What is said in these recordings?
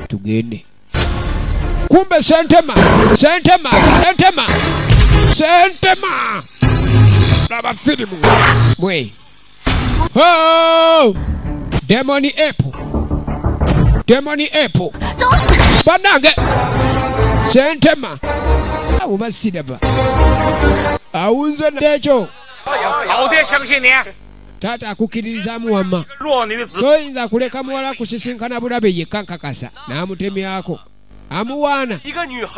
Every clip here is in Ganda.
tugende kumbe sentema sentema sentema sentema laba filimu mwe Oh! demoni epu demoni epu banange sentema abo basiraba awunze nekyo taata akukiririzaamu wamma toyinza kuleka muwala kusisinkana bulabe yekka nkakasa n'amutemyako amuwaana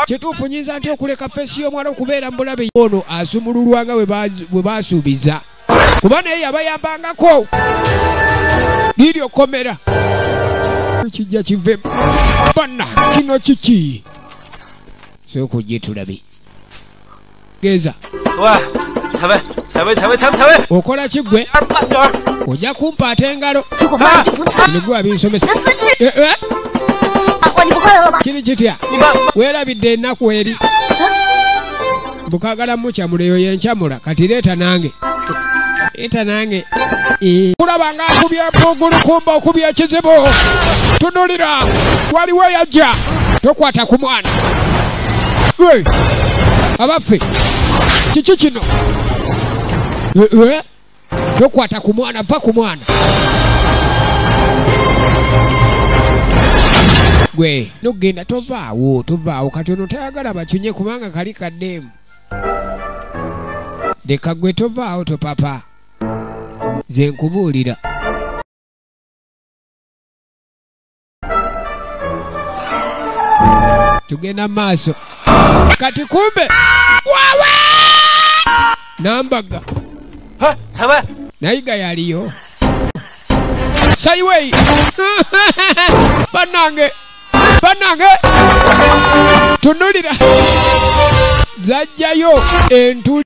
kituufu nyinza nti okuleka feesi y'omuwala okubeera mu bulabe ono asumululwa nga bwe baasuubiza kuba naye yabayambangako liiri okomera kijja kivemu banna kino kiki sokujje tulabe geza okola kigwe ojja kumpaata engalo nigwa binsomesa eh, eh. kiri kitya weerabidde ennaku eri bukagala mucamula eyo yencamula kati leeta nange eta nange eh. kulaba nga akubye mpugulu kumba okubye ekizibu tunulira waliwo yajja tokwata ku mwana Hey! abaffe kiki kino Eh, eh. tokwata ku mwana va ku mwana gwe nogenda tovaawo tovaawo kati ono tayagala bakyunye kubanga kali kademu leka gwe tovaawo topapa ze nkubuulira tugenda mu maaso kati kumbe wawa nambaga nayiga yaliyo sayiweyi banange banange tunulira zajjayo entuli